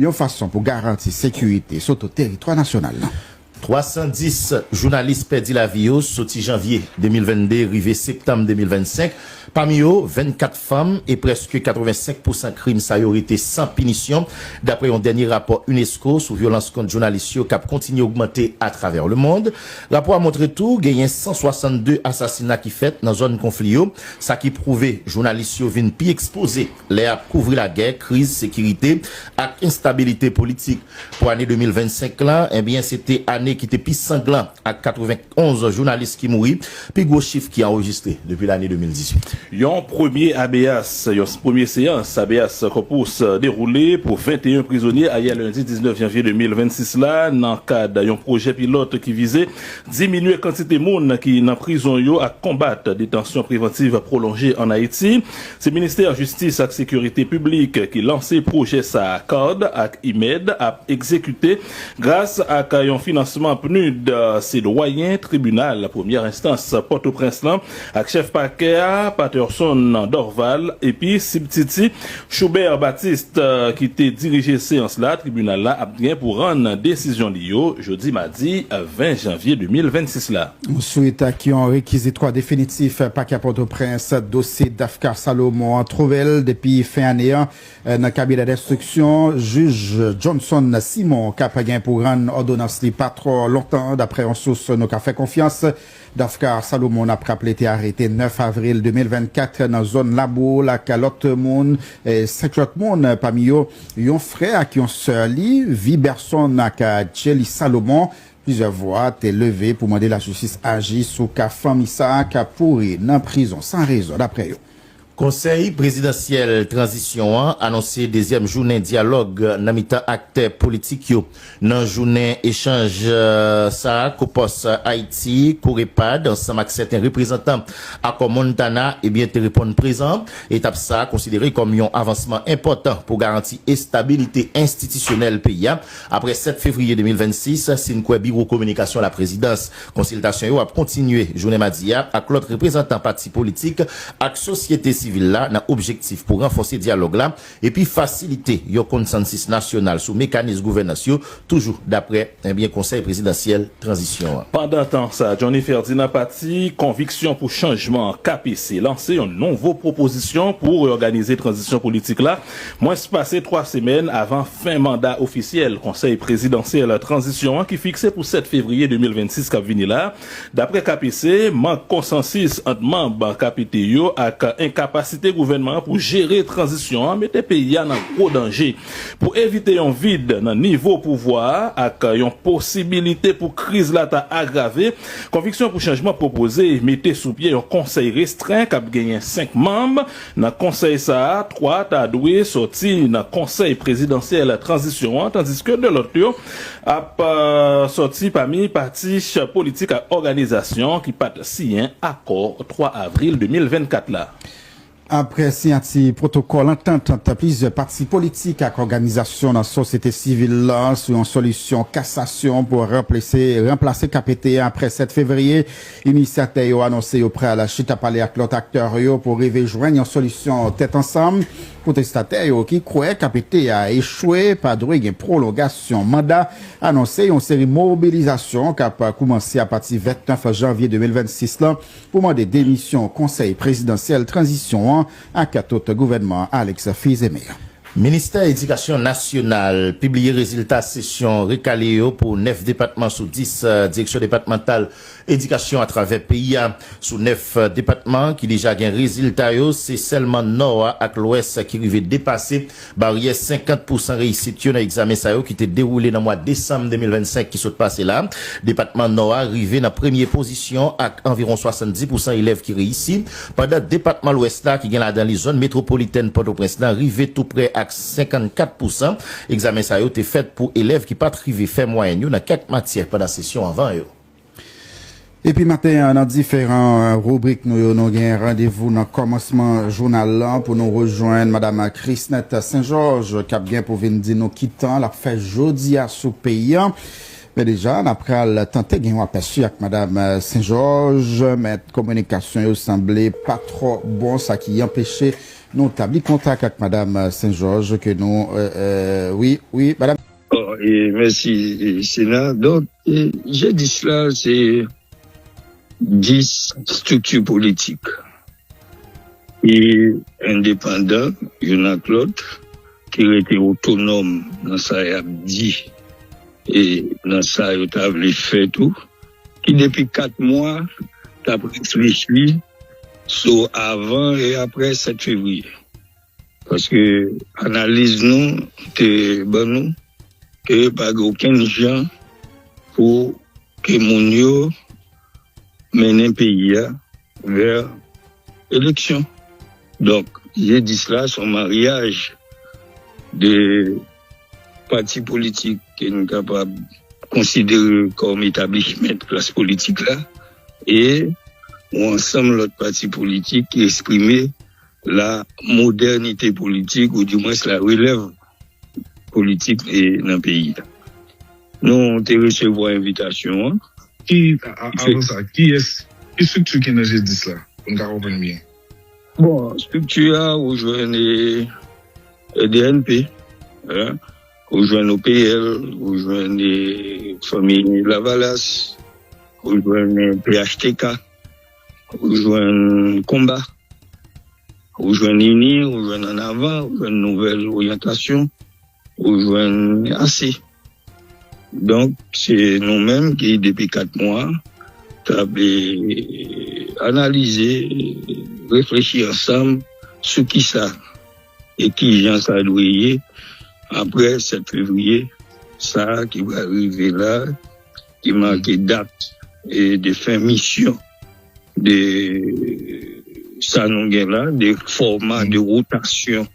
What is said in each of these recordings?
yon fason pou garanti sekirite soto teritwa nasyonal lan. 310 jounalis pèdi lavi yo soti janvye 2022 rive septanm 2025, pami yo 24 fanm, e prèske 85 pousan krim sa yo rete san pinisyon, daprè yon dènye rapò unesco sou vyolans kont jounalis yo k ap kontinye ogmante atravè lemond. Rapò a montre tou genyen 162 asasina ki fèt nan zòn konfli yo, sa ki pwouve jounalis yo vin pi ekspoze. lè y ap kouvri lagè, kriz sekirite ak enstabilite politik. Pou ane 2025 la, ebyen se te ane ki te pi sanglan ak 91 jounalis ki mouri, pi gwo chif ki anrejistre depi lane 2018. Yon premye habeas, yon premye seyans habeas corpus dewoule pou 21 prizonye ayè lendi 19 janvye 2026 la nan kad yon pwojè pilòt ki vize diminye kantite moun ki nan prizon yo ak konbat detansyon prevantiv pwolonje an Ayiti. Se Ministè Jistis ak Sekirite Piblik ki lanse pwojè sa a card ak IMED ap egzekite gras ak yon finansman PNUD. Se Dwayen Tribinal Premyè Enstans Pòtoprens lan ak Chèf Pakè a Patterson Dorval epi Sibtiti Choubert Baptiste ki te dirije seyans la tribinal la ap gen pou rann desizyon li yo jodi madi 20 janvye 2026 la. Swit ak yon rekizitwa definitif Pakè a Pòtoprens, dosye Dafcar Salomon an twouve l depi fen ane an nan kabinè denstriksyon jij Johnson Simon k ap gen pou rann òdonans li pa twò lontan. Daprè yon sous nou ka fè konfyans, Dafcar Salomon n ap raple te arete 9 avril 2024 nan zòn Laboul ak lòt moun 5 lòt moun pami yo yon frè ak yon sè li Viberson ak Djely Salomon Plizyè vwa te leve pou mande lajistis aji sou ka fanmi sa a k ap pouri nan prizon san rezon, daprè yo. Konsèy prezidansyèl tranzisyon an anonse dezyèm jounen dyalòg nan mitan aktè politik yo. Nan jounen echanj sa a Kou Pòs Ayiti, Courepad, ansanm ak sèten reprezantan Akò Montana ebyen te reponn prezan. Etap sa a konsidere kòm yon avansman enpòtan pou garanti estabilite enstitisyonèl peyi a Aprè 7 fevriye 2026, si n kwè biwo kominikasyon laprezidans, konsiltasyon yo ap kontinye jounen madi a ak lòt reprezantan pati politik ak sosyete sivil la nan objektif pou ranfòse dyalòg la epi fasilite yon konsansis nasyonal sou mekanis gouvènans yo, toujou daprè Konsèy prezidansyèl tranzisyon an. Pandantan sa, Johnny Ferdinand pati Konviksyon pou chanjman, KPC, lanse yon nouvo pwopozisyon pou reòganize tranzisyon politik la Mwens pase 3 semèn avan fen manda ofisyèl Konsèy Prezidansyèl Tranzisyon an ki fikse pou 7 fevriye 2026 kap vini la, daprè KPC, mank konsansis ant manb KPT yo ak enkapasite gouvènman an pou jere tranzisyon an mete peyi a nan gwo danje. Pou evite yon vid nan nivo pouvwa a ak yon posibilite pou kriz la ta agrave, Konviksyon pou Chanjman pwopoze mete sou pye yon konsèy restren kap genyen 5 manb, Nan konsèy sa a, 3 ta dwe sòti nan Konsèy prezidansyèl tranzisyon an, tandiske 2 lòt yo ap sòti pami pati politik ak òganizasyon ki pa t siyen akò 3 avril 2024 la. Aprè siyati pwotokòl antant ant plizyè pati politik ak òganizasyon nan sosyete sivil la sou yon solisyon kasasyon pou ranplase KPT a aprè 7 fevriye, Inisyatè yo anonse yo pral chita pale ak lòt aktè yo pou rive jwenn yon solisyon tèt ansanm. Pwotestatè yo ki kwè KPT a echwe pa dwe gen pwolongasyon manda anonse yon seri mobilizasyon k ap koumanse apati 29 janvye 2026 lan pou mande demisyon Konsèy Prezidansyèl Tranzisyon an ak tout gouvènman Alex Fils-Aimé. Ministè Edikasyon Nasyonal pibliye rezilta sesyon rekale yo pou 9 depatman sou 10 Direksyon Depatmantal Edikasyon atravè peyi a. Sou 9 depatman ki deja gen rezilta yo, se sèlman Nò a ak Lwès ki rive depase baryè 50 pousan reyisit yo nan egzamen sa yo ki te dewoule nan mwa desanm 2025 ki sot pase la. Depatman Nò a rive nan premye pozisyon ak anviwon 70 pousan elèv ki reyisi, pandan depatman Lwès la, ki gen ladan li zòn metwopolitèn Pòtoprens lan, rive tou prè ak 54 pousan. Egzamen sa yo te fèt pou elèv ki pa t rive fè mwayèn yo nan kèk matyè pandan sesyon anvan yo. Epi maten an, nan diferan ribrik nou yo, nou gen randevou nan kòmansman jounal lan pou nou rejwenn Madam Chrisnette Saint Georges k ap gen pou vin di nou ki tan l ap fè jodi a sou peyi an. Men deja, n a pral tante gen yon apèsi ak Madam Saint Georges, men kominikasyon yo sanble pa twò bon sa ki anpeche Nou tabli kontak ak madam Sen Jòj ke nou wi wi madam. Oh e mèsi Sena donk G10 la se 10 strikti politik ki endepandan youn ak lòt ki rete otonòm nan sa y ap di e nan sa yo ta vle fè tou ki depi 4 mwa t ap reflechi sou avan e aprè 7 fevriye. Paske analiz nou te ban nou ke pa gen okenn jan pou ke moun yo mennen peyi a vè eleksyon. Donk, G10 la son maryaj de. Pati politik ke nou kapab konsidere kòm etablishment klas politik la e yon ansanm lòt pati politik ki esprime la modènite politik ou di mwens la relèv politik nan peyi a. Nou te resevwa envitasyon an. Ki, avan sa, kiyès, ki strikti ki nan G10 la, pou n ka konprann byen? Bon, estrikti a ou jwenn EDNP, ou jwenn OPL, ou jwenn Fanmi Lavalas, ou jwenn phtk, ou jwenn Konba, ou jwenn Ini, ou jwenn Annavan, ou jwenn Nouvèl Oryantasyon. Ou jwenn ase. Donk se nou menm ki depi 4 mwa k ap analize, reflechi ansanm sou kisa e kijan sa dwe ye apre 7 fevriye sa ki pral rive la ki make dat de fen misyon de sa nou gen la, de fòma, de wotasyon.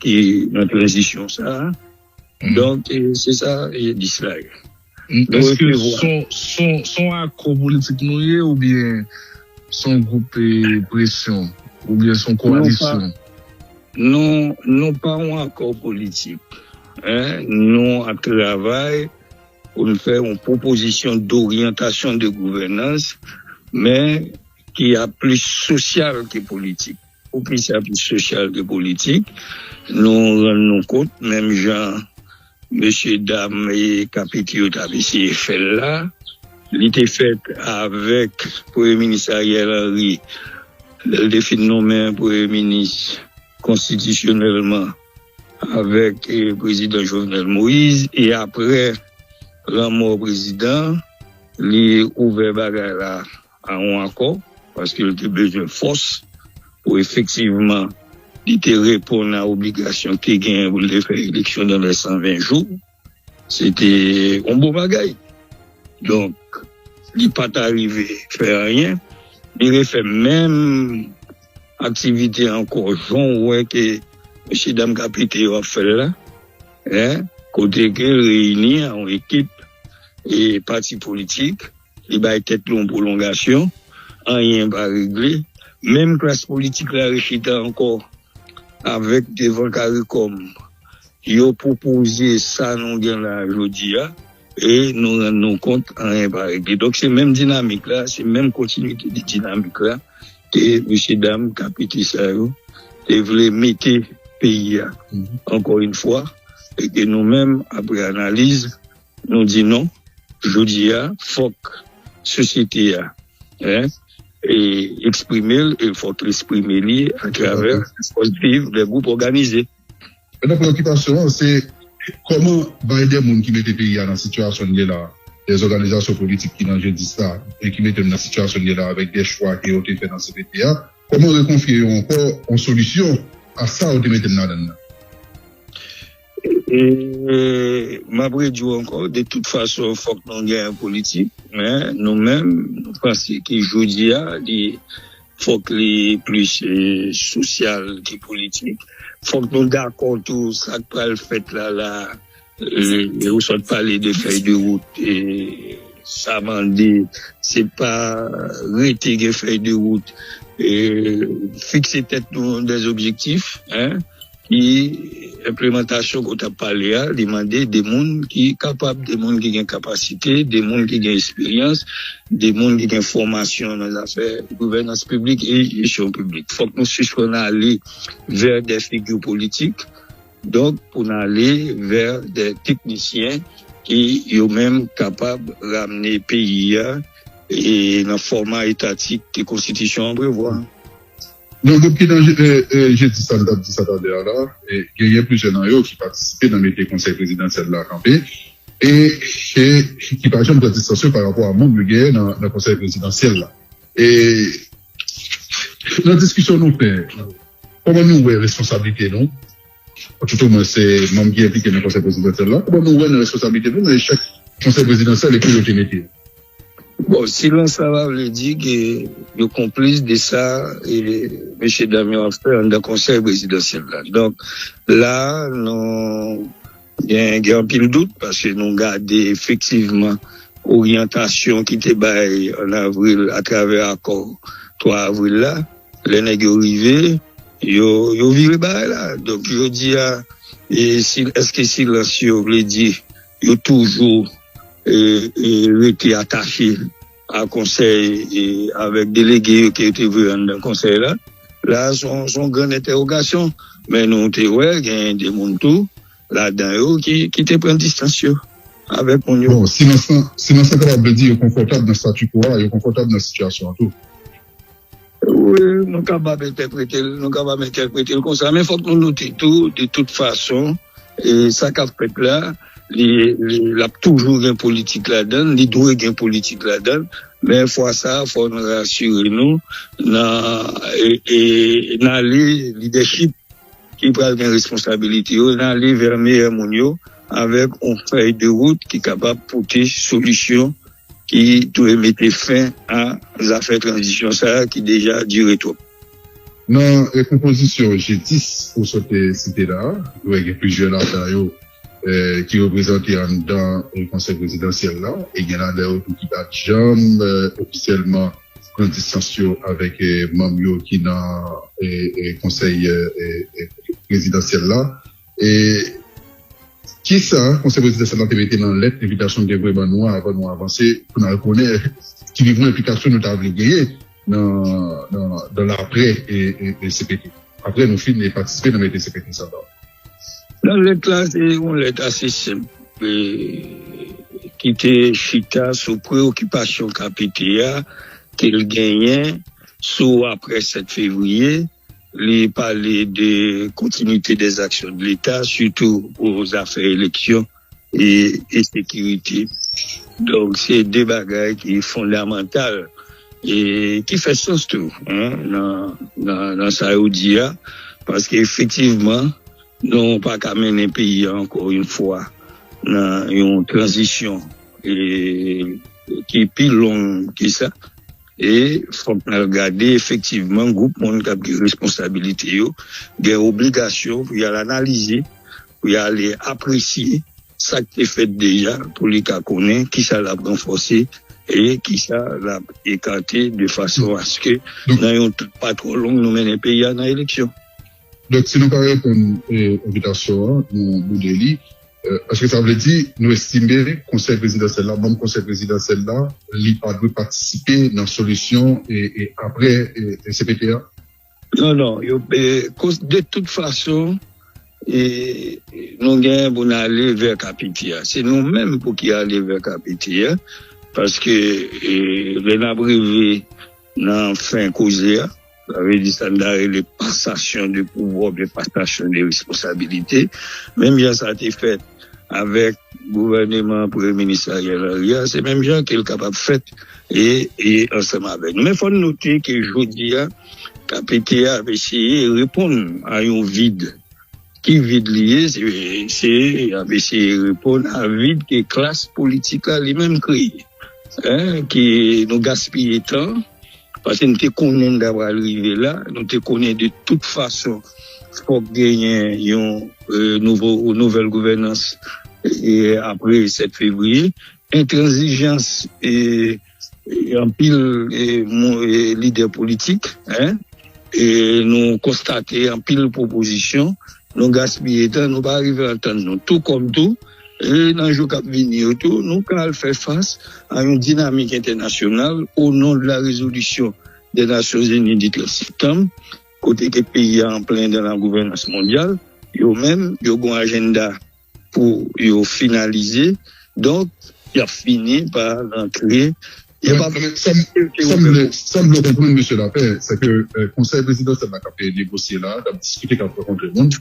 ki nan tranzisyon sa a. Donk, se sa yo di sila yo. Eske s on akò politik nou ye oubyen s on gwoup presyon oubyen s on koalisyon? Nou pa yon akò politik. Nou ap travay pou n fè yon pwopozisyon doryantasyon de gouvènans men ki ap plis sosyal ke politik. Pou ki sa pou sosyal ke politik? Nou rann nou kont menm jan mesye dam kapiti yo t ap eseye fè l la, li te fèt avèk premye minis Ariel Henry lè l te fin nonmen premye minis konstitisyonèlman avèk prezidan Jovenel Moïse e aprè lanmò prezidan li ouvè bagay la Aawon ankò, paske l te bezwen fòs pou efektivman li te reponn a obligasyon l te genyen pou l te fè eleksyon nan lè 120 jou, se te yon bon bagay. Donk, li pa t arive fè anyen, li refè menm aktivite ankò jan w wè ke mesye dam ka pete yo ap fè l la, kote ke l reyini yon ekip pati politik. Li bay tèt li yon pwolongasyon, anyen pa regle. Menm klas politik la rechita ankò avèk devan karikòm. Yo pwopoze sa nou gen la a jodi a e nou rann nou kont anyen pa regle. Donk se menm dinamik la, se menm kontinite de dinamik la ke mesye dam KPT sa yo te vle mete peyi a ankò yon fwa e ke nou menm apre analiz Nou di non, jodi a fòk sosyete a eksprime l e l fòk li eksprime li atravè kolektif de gwoup òganize. Mèt nan preokipasyon an se kòman bay de moun ki mete peyi a nan sitiyasyon n ye la, de zòganizasyon politik ki nan jodi sa e ki mete n nan sitiyasyon n ye la avèk de chwa ke yo te fè nan cpt a, kòman rekonfye yo ankò yon solisyon a sa yo te mete n ladann nan. M ap redi w ankò, de tout fason fòk nou gen yon politik, men nou menm nou panse ke jodi a li fòk li plis sosyal ke politik. Fòk nou dakò tou sa k pral fèt la la a, ou sot pale de fèy de wout, sa mande se pa rete gen fèy de wout, fikse tèt nou dè objektif. Ki enplemantasyon ke w t ap pale a? Li mande de moun ki kapab, de moun ki gen kapasite, de moun ki gen esperyans, de moun ki gen fòmasyon nan zafè gouvènans piblik e jesyon piblik. Fòk nou sispann ale vè dè figi politik, donk pou n ale vè dè teknisyen ki yo menm kapab ramne peyi a nan fòma etatik ke konstitisyon an prevwa. Nan gwoup ki nan Je di sa m t ap di sa talè a la, genyen plizyè nan yo ki patisipe nan mete Konsèy Prezidansyèl la kanpe e ki pa janm pran distans yo parapò a manm yo genyen nan Konsèy Prezidansyèl la. E nan diskisyon nou fè, kòman nou wè responsablite nou? Atoutou mwen se manm ki enplike nan Konsèy Prezidansyèl la. Bon nou wè nan responsablite nou nan echèk Konsèy Prezidansyèl e pou yo te mete yo. Bon silans sa va vle di ke yo konplis de sa mesye dam yo ap fè anndan Konsèy Prezidansyèl la. Donk la nou. Gen gen anpil dout paske nou gade efektivman oryantasyon ki te bay an avril atravè akò 3 avril la. Lè nèg yo rive, yo yo vire bagay la. Donk jodi a, e si èske silans yo vle di yo toujou e e rete atache? a konsèy e avèk delege yo ke yo te voye anndan konsèy la, la a se yon gran entèwogasyon, men nou te wè genyen de moun tou ladan yo ki te pran distans yo avèk moun yo. Bon, silans lan, silans lan kapab vle di yo konfòtab nan statu quo a, yo konfòtab nan sitiyasyon an tou. Wi, nou kapab entèprete l, nou kapab entèprete l konsa. Men fòk nou note tou, de tout fason, sa k ap fèt la, l ap toujou gen politik ladan l, li dwe gen politik ladan l. Men fwa sa a, fòk nou rasire nou nan ale lidèchip ki pral gen responsabilite yo, nan ale vè meyè moun yo avèk yon fèy de wout ki kapab pote solisyon. ki dwe mete fen a zafè tranzisyon sa a ki deja dire twòp. Nan pwopozisyon G10 ou sot site la, dwè gen plizyè ladan yo ki reprezante anndan Konsèy Prezidansyèl la e gen ladan yo tou ki pa t janm ofisyèlman pran distans yo avèk manm yo ki nan Konsèy Prezidansyèl la. E kisa Konsèy Prezidansyèl lan te mete nan lèt envitasyon li te voye ban nou an avan nou avanse pou n al konnen ki mouvman enplikasyon nou ta vle genyen nan aprè cpt, aprè nou fin patisipe nan mete cpt sa ba? Nan lèt la, se yon lèt ase senp ki te chita sou preyokipasyon KPT a ke l genyen sou aprè 7 fevriye. Li pale de kontinite de zaksyon de leta sitou pou zafè eleksyon e sekirite. Donk se de bagay ki fondamantal e ki fè sans tou nan sa yo di a paske efektivman nou pa ka mennen peyi a ankò yon fwa nan yon tranzisyon ki pi long ke sa. E fòk n al gade efektivman gwoup moun k ap gen responsabilite yo gen obligasyon pou y al analize, pou y ale apresye sa k te fèt deja pou li ka konnen kisa l ap ranfòse e kisa l ap ekate de fason aske nan yon tan pa twò long nou mennen peyi a nan eleksyon. Donk si nou pa reponn envitasyon an, nou boude li. Eske sa vle di nou estime Konsèy Prezidansyèl la, manm Konsèy Prezidansyèl la, li pa dwe patisipe nan solisyon apre cpt a? Non, non. De tout fason, nou genyen pou nou ale vè cpt a. Se nou menm pou ki ale vè cpt a. Paske lè n ap rive nan fen koze a. Sa vle di sa n ta rele pasasyon de pouvwa oubyen pasasyon de responsabilite. Menm jan sa te fèt avèk gouvèneman Premye Minis Ariel Henry a, se menm jan ke l kapab fèt ansanm avèk nou. Men fò n note ke jodi a, KPT a ap eseye reponn a yon vid. Ki vid li ye? Se y ap eseye reponn a vid ke klas politik la li menm kreye. Ke nou gaspiye tan. Paske nou te konnen n ta pral rive la, nou te konnen de tout fason fòk genyen yon nouvo ou nouvèl gouvènans apre 7 fevriye. Entranzijans anpil lidè politik, nou konstate anpil pwopozisyon, nou gaspiye tan, nou pa rive antann nou. Tou kòm tou. E nan jou kap vini yo tou, nou ka al fè fas a yon dinamik entènasyonal o non de la rezolisyon dè Nasyon Zini di 13 septanm, kote ke peyi a anplen dan la gouvènans mondyal, yo menm yo gon ajennda pou yo finalize, donk yap fini pa rantre. Sam vle konprann Mesye Lapè, sè ke Konsèy Prezidansyèl la kap negosye la, kap diskite, kap rankontre moun.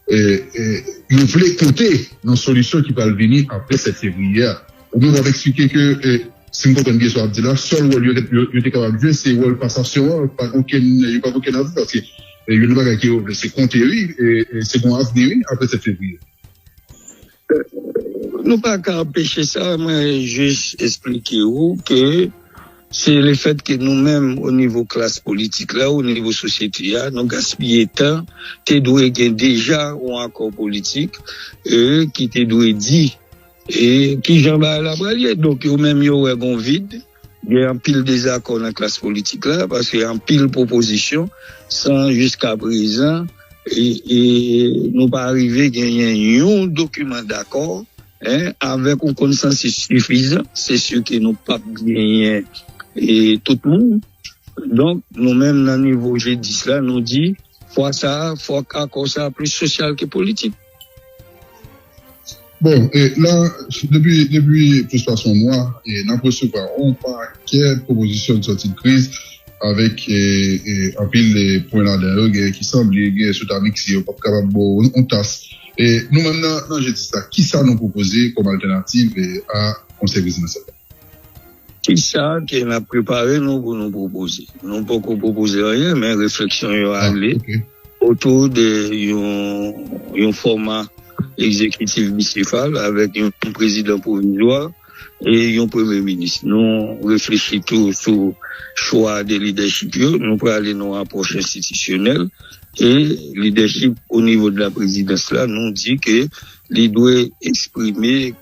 yo vle pote nan solisyon ki pral vini apre 7 fevriye a. Ou menm w ap eksplike ke, si m konprann byen sa w ap di la, sèl wòl yo te kapab jwe se wòl pasasyon an, yo pa gen okenn avni paske youn nan bagay ke yo vle se konte wi, se gon avni wi apre 7 fevriye. Nou pa ka anpeche sa, mwen jis esplike ou ke se le fèt ke nou menm o nivo klas politik la, o nivo sosyete a, nou gaspiye tan, te dwe gen deja yon akò politik e ki te dwe di e kijan bagay la pral ye. Donk yo menm yo wè gon vid. Gen anpil dezakò nan klas politik la paske anpil pwopozisyon san jiskaprezan nou pa rive genyen yon dokiman dakò avèk yon konsansis sifizan se si ke nou pap genyen tout moun donk nou menm nan nivo G10 la nou di fwa sa fòk akò sa plis sosyal ke politik. Bon, e la, depi plis pase yon mwa, n ap resevwa yon pakè pwopozisyon ki sòti kriz, avèk anpil pwen ladan yo, genyen ki sanble, genyen si w ta mikse yo, pap kapab ba w yon tas. Nou menm nan Je dis la, ki sa nou pwopoze kòm altènativ a Konsèy Prezidansyèl la? Ki sa ke n ap prepare nou pou nou pwopoze? Nou poko pwopoze anyen, men refleksyon yo ale. Otou de yon fòma egzekitif bisefal avèk yon prezidan pwovizwa e yon premye minis. Nou reflechi tou sou chwa de lidèchip yo. Nou prale nan yon apwòch enstitisyonèl e lidèchip onivo de la prezidans la nou di ke li dwe eksprime.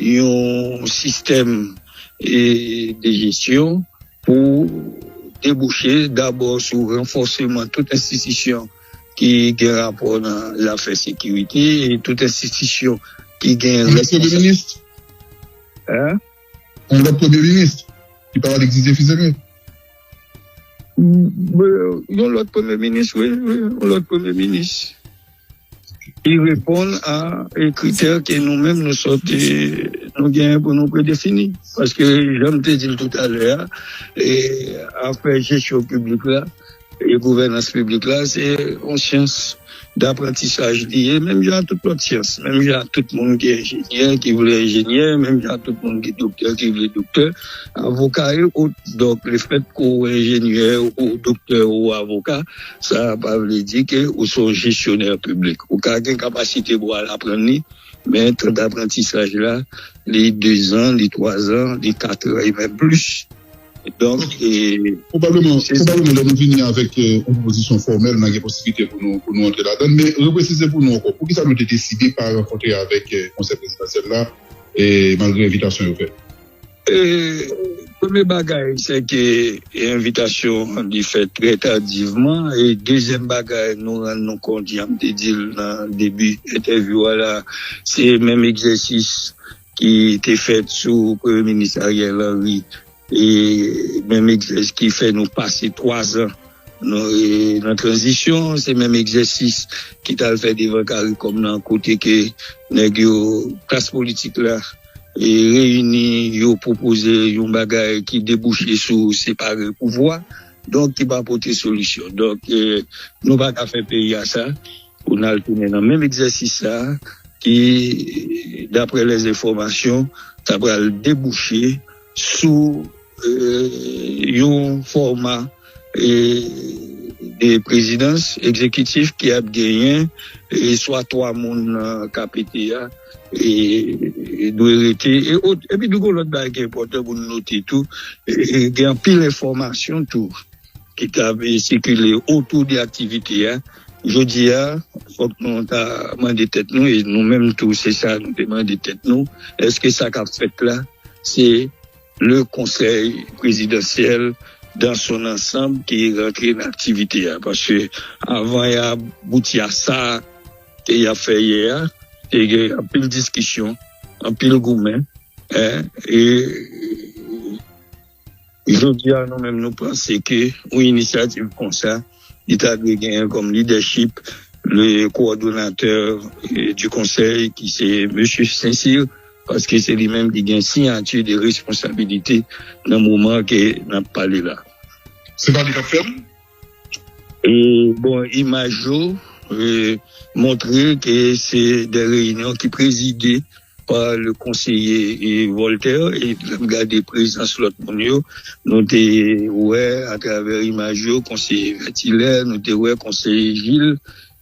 yon sistèm de jesyon pou debouche dabò sou ranfòseman tout enstitisyon ki gen rapò nan zafè sekirite e tout enstitisyon ki gen responsabilite. Yon lòt premye minis ki pa rele Didier Fils-Aimé? Yon lòt premye minis, wi, yon lòt premye minis. Li reponn a kritè ke nou menm nou sot nou genyen pou nou predefini. Paske jan m te di l toutalè a, afè jesyon piblik la e gouvènans piblik la se yon syans daprantisaj li ye menm jan ak tout lòt syans. Menm jan ak tout moun ki enjenyè ki vle enjenyè, menm jan ak tout moun ki doktè ki vle doktè, avoka e ot. Donk lefèt ke w enjenyè ou doktè ou avoka. Sa a pa vle di ke ou se yon jesyonè piblik. Ou ka gen kapasite pou al aprann li, men tan daprantisaj la, li dezan, li twazan, li katran e menm plis. Donk, e. Pwobableman, pwobableman lè nou vini avèk yon pwopozisyon fòmèl, n a gen posiblite pou nou, pou nou antre ladan l. Men, represize pou nou ankò, poukisa nou te deside pa rankontre avèk Konsèy Prezidansyèl la, e malgre envitasyon yo fè? Premye bagay se ke envitasyon an li fèt trè tadivman e dezyèm bagay nou rann nou kont jan m te di l nan debi entèvyou a la se menm egzèsis ki te fèt sou Premye Minis Ariel Henry e menm egzèsis ki fè nou pase 3 zan Nou nan tranzisyon, se menm egzèsis ki t al fè devan caricom nan kote ke nèg yo, klas politik la reyini, yo pwopoze yon bagay ki debouche sou separe pouvwa, donk ki pa pote solisyon. Donk nou pa ka fè peyi a sa pou n al tounen nan menm egzèsis sa ki daprè lèzenfòmasyon ta pral debouche. sou yon fòma de prezidans ekzekitif ki ap genyen swa 3 moun ka pete a dwe rete e ot. Epi tou gon lòt bagay ki enpòtan pou nou note tou, gen anpil enfòmasyon tou. ki t ap sikile otou de aktivite a. Jodi a, fòk nou ta mande tèt nou, e nou menm tou se sa nou te mande tèt nou, èske sa k ap fèt la se le konsèy prezidansyèl dan son ansanm ki rantre nan aktivite a? Paske avan y abouti a sa ke y ap fè yè a, te gen anpil diskisyon, anpil goumen, e. Jodi a nou menm nou panse ke yon inisyativ konsa li ta dwe genyen kòm lidèchip le kowòdonatè di konsèy ki se mesye Sensil paske se li menm ki gen siyati de responsabilite nan moman ke n ap pale la. Se pa li k ap fè l? E bon imaj yo montre ke se de reyinyon ki prezide. pa le konseye Voltaire e lèm gade prezans lòt moun yo nou te wè a travè imaj yo konseye Vètilè nou te wè konseye Jil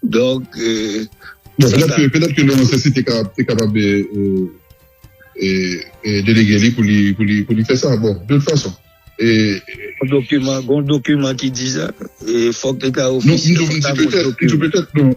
donk Bon petèt ke petèt ke Leon Sesi te ka te kapab delege li pou li pou li pou li fè sa bon de tout fason Gon dokiman gon dokiman ki di sa e fòk li ta ofisyèl non m di petèt m di petèt non.